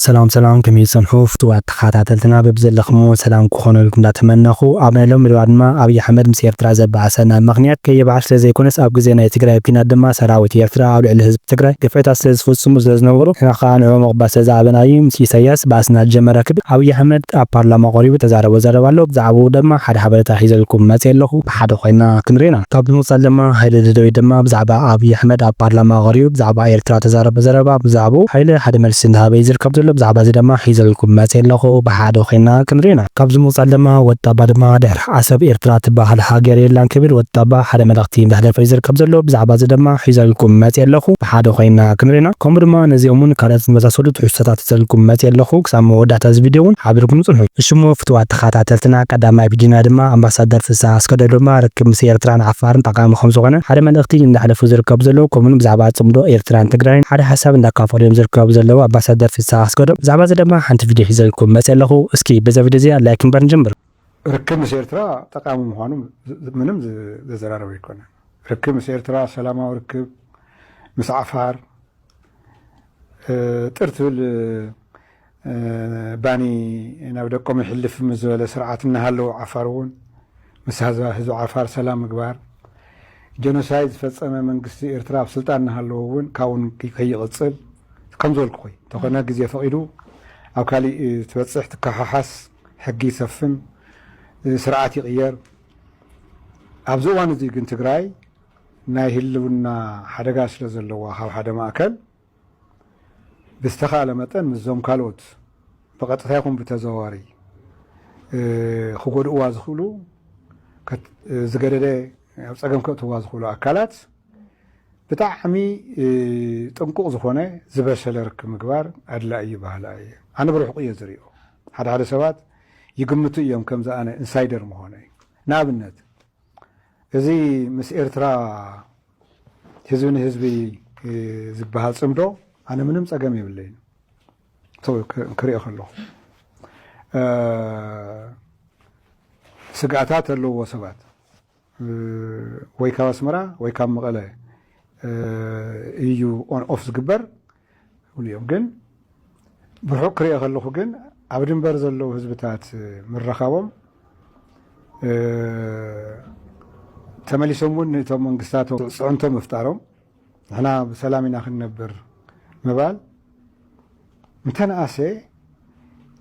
ሰላም ሰላም ከመይ ትጸንሑ ፍቱዋት ተኻታተልትና በብዘለኽምዎ ሰላም ክኾነልኩም እንዳተመነኹ ኣብ ናይ ሎሚ መደባ ድማ ኣብይ ኣሕመድ ምስ ኤርትራ ዘባኣሰና ብምኽንያት ከይባዓል ስለዘይኮነስ ኣብ ግዜ ናይ ትግራይ ኩናት ድማ ሰራዊት ኤርትራ ኣብ ልዕሊ ህዝቢ ትግራይ ግፍዕታት ስለዝፍጽሙ ስለዝነበሩ ንሕና ከኣ ንዕኦም ምቕባል ስለዝኣበና እዩ ምስ ኢሳያስ ባእስና ዝጀመረ ክብል ኣብይ ኣሕመድ ኣብ ፓርላማ ቀሪቡ ተዛረቦ ዘረባ ኣሎ ብዛዕባኡ ደማ ሓደ ሓበሬታ ሒዘልኩም መጼ ኣለኹ። ሓደ ኮይና ክንሪኦ ኢና። ካብ ብምቅጻል ድማ ሃይለ ደደቢት ድማ ብዛዕባ ኣብይ ኣሕመድ ኣብ ፓርላማ ቀሪቡ ብዛዕባ ኤርትራ ተዛረበ ዘረባ ብዛዕብኡ ሃይለ ሓደ መልሲ እንዳሃበ እዩ ዝርከብ ዘሎ ብዛዕባ እዚ ደማ ሒዘልኩም መጼ ኣለኩ ብሓደ ኮይና ክንሪኦ ኢና። ካብዚ ብምቅጻል ደማ ወዲ ጣባ ድማ ድሕሪ ዓሰብ ኤርትራ ትባሃል ሃገር የላን ክብል ወዲ ጣባ ሓደ መልእክቲ እንዳሕለፈ እዩ ዝርከብ ዘሎ ብዛዕባ እዚ ደማ ሒዘልኩም መጼ ኣለኩ ብሓደ ኮይና ክንሪኦ ኢና ከምኡ ድማ ነዚኦምን ካልኦት ዝመሳሰሉ ትሕዝቶታት ሒዘልኩም መጼ ኣለኩ ክሳብ መወዳእታ እዚ ቪድዮ ውን ሓቢርኩም ጽንሑ እሺ እሞ ፍትዋት ተኸታተልትና ቀዳማይ ቪድዮና ድማ ኣምባሳደር ፍስሃ ኣስገዶም ድማ ርክብ ምስ ኤርትራን ዓፋርን ጠቓሚ ከምዝኾነ ሓደ መልእኽቲ እንዳሕለፉ ዝርከቡ ዘለዉ ከምኡ ውን ብዛዕባ ጽምዶ ኤርትራን ትግራይን ሓደ ሓሳብ እንዳካፈሉ እዮም ዝርከቡ ዘለዉ ኣምባሳደር ፍስሃ ኣስገዶም ብዛዕባ እዚ ድማ ሓንቲ ቪድዮ ሒዘልኩም መጼ ኣለኹ እስኪ በዛ ቪድዮ እዚኣ ላይክ እምበር ንጀምር። ርክብ ምስ ኤርትራ ጠቓሚ ምዃኑ ምንም ዘዘራርብ ኣይኮነን ርክብ ምስ ኤርትራ ሰላማዊ ርክብ ምስ ዓፋር ጥር ትብል ባኒ ናብ ደቆም ይሕልፍ ምስ ዝበለ ስርዓት እናሃለዉ ዓፋር እውን ምስ ህዝቢ ዓፋር ሰላም ምግባር ጀኖሳይድ ዝፈፀመ መንግስቲ ኤርትራ ኣብ ስልጣን እናሃለዉ እውን ካብኡ ከይቕፅል ከምዝበልኩኹይ እንተኾነ ግዜ ፈቒዱ ኣብ ካሊእ ትበፅሕ ትከሓሓስ ሕጊ ይሰፍን ስርዓት ይቕየር ኣብዚ እዋን እዙይ ግን ትግራይ ናይ ህልውና ሓደጋ ስለዘለዋ ካብ ሓደ ማእከል ብዝተኻእለ መጠን ምስዞም ካልኦት ብቐጥታ ይኹን ብተዘዋዋሪ ክጎድእዋ ዝኽእሉ ዝገደደ ኣብ ፀገም ከእትዋ ዝኽእሉ ኣካላት ብጣዕሚ ጥንቁቕ ዝኾነ ዝበሰለ ርክብ ምግባር ኣድላዪ እዩ በሃላይ እየ። ኣነ ብርሕቑ እየ ዝሪኦ። ሓደ ሓደ ሰባት ይግምቱ እዮም ከምዚ ኣነ ኢንሳይደር ምዃነይ። ንኣብነት። እዚ ምስ ኤርትራ ህዝቢ ንህዝቢ ዝበሃል ጽምዶ ኣነ ምንም ጸገም የብለይን ክሪኦ ከለኹ ስግኣታት ኣለዎ ሰባት ወይ ካብ ኣስመራ ወይ ካብ መቐለ እዩ ኦን ኦፍ ዝግበር ይብሉ እዮም ግን ብርሑቅ ክሪኦ ከለኩ ግን ኣብ ድንበር ዘለዉ ህዝብታት ምርኻቦም ተመሊሶም እውን ንቶም መንግስታት ፅዕንቶ ምፍጣሮም ንሕና ብሰላም ኢና ክንነብር ምባል እንተነኣሰ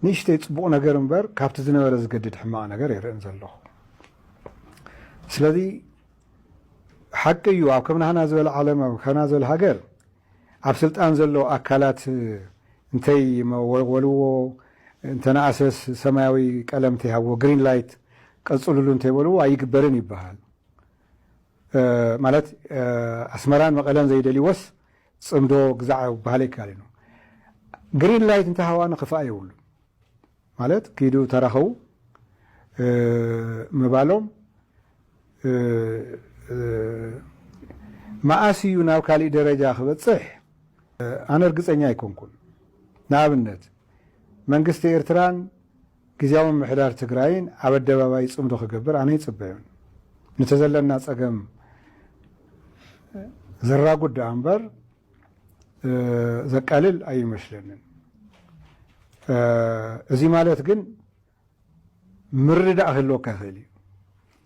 ንእሽተይ ፅቡቕ ነገር እምበር ካብቲ ዝነበረ ዝገድድ ሕማቕ ነገር ይርእን ዘለኹ ስለዚ ሓቂ እዩ ኣብ ከምናህና ዝበለ ዓለም ኣብ ከምና ዝበለ ሃገር ኣብ ስልጣን ዘሎ ኣካላት እንተይ መወልዎ እንተነኣሰስ ሰማያዊ ቀለም እንተይሃብዎ፣ ግሪን ላይት፣ ቀፅሉሉ እንተይበልዎ ኣይግበርን ይበሃል። ማለት ኣስመራን መቐለን ዘይደልይዎስ ፅምዶ ግዛዕ ክበሃል ኣይከኣልን እዩ። ግሪን ላይት እንተሃባኑ ክፋእ የብሉን። ማለት ኪዱ ተራኸቡ ምባሎም መኣስ እዩ ናብ ካሊእ ደረጃ ክበፅሕ ኣነ እርግፀኛ ኣይኮንኩን። ንኣብነት መንግስቲ ኤርትራን ግዝያዊ ምምሕዳር ትግራይን ኣብ ኣደባባይ ፅምዶ ክገብር ኣነ ኣይፅበዮን። ንቲ ዘለና ፀገም ዘራጉድ ደኣ እምበር ዘቃልል ኣይመስለንን። እዚ ማለት ግን ምርዳእ ክህልወካ ይኽእል እዩ።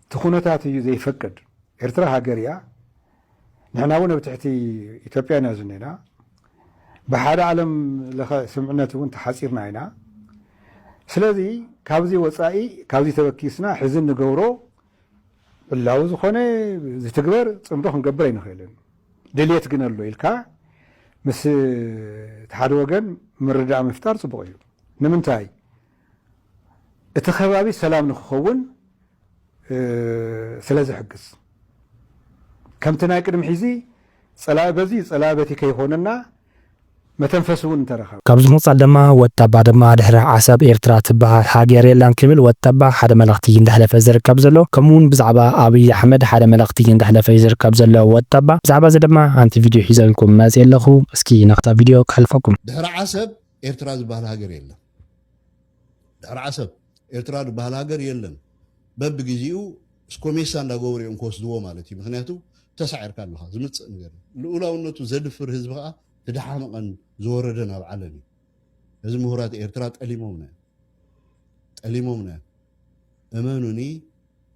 እቲ ኩነታት እዩ ዘይፈቅድ። ኤርትራ ሃገር እያ። ንሕና እውን ኣብ ትሕቲ ኢትዮጵያ ኢና ዝኒና። ብሓደ ዓለም ለኸ ስምዕነት እውን ተሓፂርና ኢና። ስለዚ ካብዚ ወፃኢ ካብዚ ተበኪስና ሕዚ እንገብሮ ዕላዊ ዝኾነ ዝትግበር ፅምዶ ክንገብር ኣይንኽእልን። ድልየት ግን ኣሎ ኢልካ ምስ እቲ ሓደ ወገን ምርዳእ ምፍጣር ፅቡቕ እዩ። ንምንታይ? እቲ ከባቢ ሰላም ንክኸውን ስለ ዝሕግዝ። ከምቲ ናይ ቅድሚ ሕዚ ፀላኢ በዚ ፀላኢ በቲ ከይኾነና መተንፈሲ ውን እንተረኸበ። ካብዚ ብምቕጻል ደማ ወጣባ ደማ ድሕሪ ዓሰብ ኤርትራ ትበሃል ሃገር የላን ክብል ወጣባ ሓደ መልእኽቲ እዩ እንዳሕለፈ ዝርከብ ዘሎ ከምኡ ውን ብዛዕባ ኣብይ ኣሕመድ ሓደ መልእኽቲ እዩ እንዳሕለፈ እዩ ዝርከብ ዘሎ ወጣባ ብዛዕባ እዚ ደማ ሓንቲ ቪድዮ ሒዘልኩም መጽየ ኣለኹ እስኪ ናብታ ቪድዮ ከሕልፈኩም። ድሕሪ ዓሰብ ኤርትራ ዝባሃል ሃገር የለን። ድሕሪ ዓሰብ ኤርትራ ድባሃል ሃገር የለን። በብግዚኡ ስኮሜሳ እንዳገበሩ እዮም ክወስድዎ ማለት እዩ ምክንያቱ ተሳዒርካ ኣለኻ ዝምጽእ ነገር እዩ ልኡላውነቱ ዘድፍር ህዝቢ ከኣ ትደሓመቐን ዝወረደን ኣብ ዓለም እዩ እዚ ምሁራት ኤርትራ ጠሊሞምና እዮም ጠሊሞምና እዮም እመኑኒ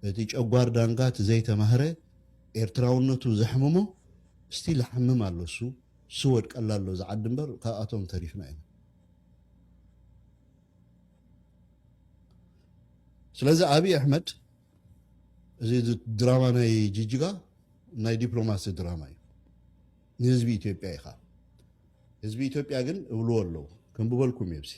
እቲ ጨጓር ዳንጋ እቲ ዘይተማህረ ኤርትራውነቱ ዘሕምሞ እስቲ ልሓምም ኣሎ እሱ ስወድቀላ ኣሎ ዝዓዲ እምበር ካብኣቶም ተሪፍና ኢና ስለዚ ኣብይ ኣሕመድ እዚ ድራማ ናይ ጅጅጋ ናይ ዲፕሎማሲ ድራማ እዩ። ንህዝቢ ኢትዮጵያ ኢኻ ህዝቢ ኢትዮጵያ ግን እብልዎ ኣለዉ ክንብበልኩም እየ ብሲ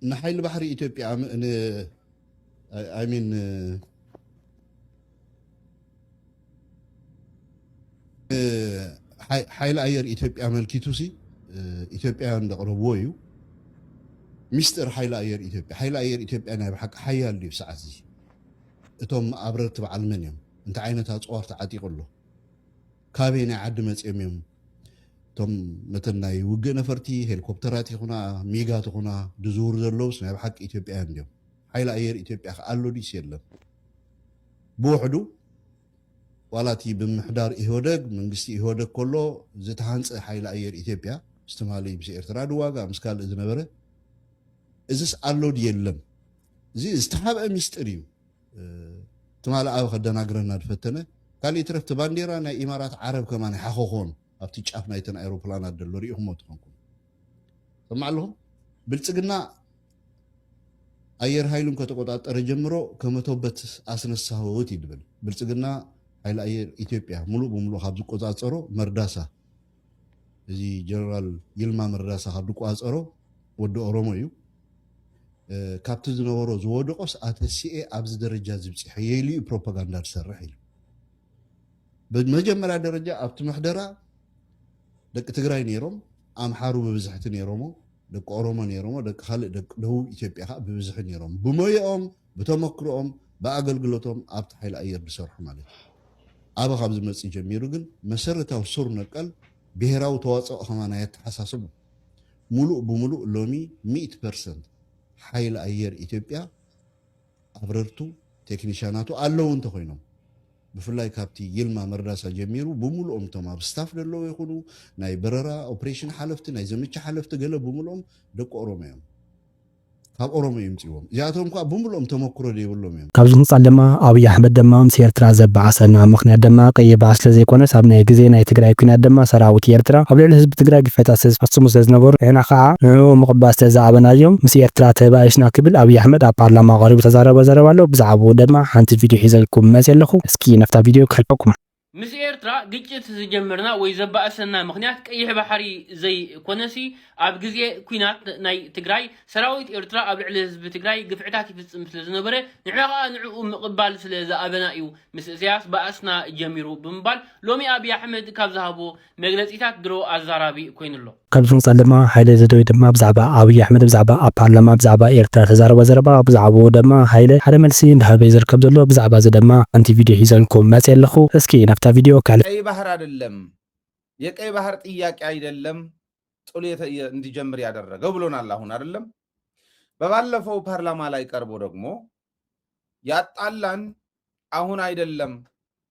ንሓይሊ ባሕሪ ኢትዮጵያ ሚን ሓይሊ ኣየር ኢትዮጵያ ኣመልኪቱሲ ኢትዮጵያውያን ዘቕረብዎ እዩ ሚስጥር ሓይሊ ኣየር ኢትዮጵያ ሓይሊ ኣየር ኢትዮጵያ ናይ ብሓቂ ሓያል ድዩ ሰዓት እዚ እቶም ኣብረርቲ በዓል መን እዮም እንታይ ዓይነት ኣፅዋር ተዓጢቑ ኣሎ ካበይ ናይ ዓዲ መፅኦም እዮም እቶም ነተን ናይ ውግእ ነፈርቲ ሄሊኮፕተራት ይኹና ሚጋት ይኹና ድዝውሩ ዘለውስ ናይ ብሓቂ ኢትዮጵያውያን ድዮም ሓይሊ ኣየር ኢትዮጵያ ከ ኣሎ ድዩስ የለን? ብውሕዱ ዋላ እቲ ብምምሕዳር ኢህወደግ፣ መንግስቲ ኢህወደግ ከሎ ዝተሃንጸ ሓይሊ ኣየር ኢትዮጵያ ምስ ትማሊ ምስ ኤርትራ ድዋጋእ ምስ ካልእ ዝነበረ እዝስ ኣሎ ድዩ የለን? እዚ ዝተሓብአ ሚስጢር እዩ። ትማሊ ኣብ ከደናግረና ዝፈተነ ካልእ ይትረፍ እቲ ባንዴራ ናይ ኢማራት ዓረብ ከማን ሓኸኾን ኣብቲ ጫፍ ናይተን ኣይሮፕላናት ዘሎ ሪኢኹሞ ትኾንኩም። ሰማዕ ኣለኹም ብልጽግና ኣየር ኃይሉን ከተቆጣጠረ ጀምሮ ከመቶበት ኣስነሳሁት ይድብል ብልጽግና ኃይሊ ኣየር ኢትዮጵያ ሙሉእ ብሙሉእ ካብ ዝቆጻጸሮ መርዳሳ እዚ ጀነራል ይልማ መርዳሳ ካብ ዝቆጻጸሮ ወዲ ኦሮሞ እዩ ካብቲ ዝነበሮ ዝወደቆስ ኣተሲኤ ኣብዚ ደረጃ ዝብፅሐ የኢሉ እዩ ፕሮፓጋንዳ ዝሰርሕ ኢሉ ብመጀመርያ ደረጃ ኣብቲ ምሕደራ ደቂ ትግራይ ነይሮም፣ ኣምሓሩ ብብዝሕቲ ነይሮሞ፣ ደቂ ኦሮሞ ነይሮሞ፣ ደቂ ካልእ ደቂ ደቡብ ኢትዮጵያ ከኣ ብብዝሒ ነይሮም። ብሞየኦም፣ ብተመክሮኦም፣ ብኣገልግሎቶም ኣብቲ ሓይሊ ኣየር ዝሰርሑ ማለት እዩ። ኣበ ካብ ዝመጽእ ጀሚሩ ግን መሰረታዊ ሱር ነቀል ብሄራዊ ተዋጽኦ ከማ ናይ ኣተሓሳስቡ ሙሉእ ብሙሉእ ሎሚ ሚእቲ ፐርሰንት ሓይሊ ኣየር ኢትዮጵያ ኣብረርቱ፣ ቴክኒሻናቱ፣ ኣለዉ እንተኾይኖም፣ ብፍላይ ካብቲ ይልማ መርዳሳ ጀሚሩ ብምሉኦም እቶም ኣብ ስታፍ ደለዉ ይኹኑ፣ ናይ በረራ ኦፕሬሽን ሓለፍቲ፣ ናይ ዘመቻ ሓለፍቲ ገለ ብምሉኦም ደቂ ኦሮሞ እዮም። ካብ ኦሮሞ እዩ ምጺዎም። እዚኣቶም ከኣ ብምሉኦም ተመኩሮ ደይብሎም እዮም። ካብዚ ንጻል ደማ ኣብይ ኣሕመድ ደማ ምስ ኤርትራ ዘባኣሰና ምኽንያት ደማ ቀይሕ ባሕሪ ስለ ዘይኮነስ ኣብ ናይ ግዜ ናይ ትግራይ ኩናት ደማ ሰራዊት ኤርትራ ኣብ ልዕሊ ህዝቢ ትግራይ ግፍዕታት ስለ ዝፈጽሙ ስለ ዝነበሩ ንሕና ከኣ ንዕኡ ምቕባል ስለ ዝኣበናዮም ምስ ኤርትራ ተባኢስና ክብል ኣብይ ኣሕመድ ኣብ ፓርላማ ቀሪቡ ዝተዛረቦ ዘረባ ኣሎ ብዛዕብኡ ደማ ሓንቲ ቪድዮ ሒዘልኩም መጽየ ኣለኹ እስኪ ናብታ ቪድዮ ከሕልፈኩም። ምስ ኤርትራ ግጭት ዝጀመርና ወይ ዘባእሰና ምኽንያት ቀይሕ ባሕሪ ዘይ ኮነሲ ኣብ ግዜ ኩናት ናይ ትግራይ ሰራዊት ኤርትራ ኣብ ልዕሊ ህዝቢ ትግራይ ግፍዕታት ይፍጽም ስለ ዝነበረ ንሕና ከኣ ንዕኡ ምቕባል ስለ ዝኣበና እዩ ምስ እሰያስ ባእስና ጀሚሩ ብምባል ሎሚ ኣብይ ኣሕመድ ካብ ዝሃቦ መግለጺታት ድሮ ኣዛራቢ ኮይኑ ኣሎ። ኣብዚ ወጻኢ ድማ ሃይለ ዘደዊ ድማ ብዛዕባ ኣብይ ኣሕመድ ብዛዕባ ኣብ ፓርላማ ብዛዕባ ኤርትራ ዝተዛረቦ ዘረባ ብዛዕብኡ ደማ ሃይለ ሓደ መልሲ እንዳሃበ ዩ ዝርከብ ዘሎ ብዛዕባ እዚ ደማ ሓንቲ ቪድዮ ሒዘልኩም መጽየ ኣለኹ እስኪ ናብታ ቪድዮ ከሕልፍ ቀይ ባህር ኣደለም የቀይ ባህር ጥያቄ ኣይደለም ጥሉ የተየ እንዲጀምር ያደረገው ብሎናል ኣሁን ኣደለም በባለፈው ፓርላማ ላይ ቀርቦ ደግሞ ያጣላን ኣሁን ኣይደለም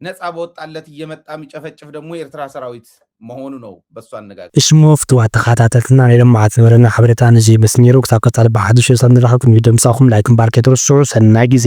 ነፃ በወጣለት እየመጣ ሚጨፈጭፍ ደግሞ የኤርትራ ሰራዊት መሆኑ ነው በሱ አነጋገር። እሽሞ ፍትዋት ተኻታተልትና ናይ ሎምዓልቲ ዝነበረና ሓበሬታ ነዚ ይመስል ነይሩ ክሳብ ቀፃሊ ብሓዱሽ ርእሰታት ንራኸብ ቅድሚ ምድምፃኹም ላይክ ምባር ከይትርስዑ ሰናይ ግዜ።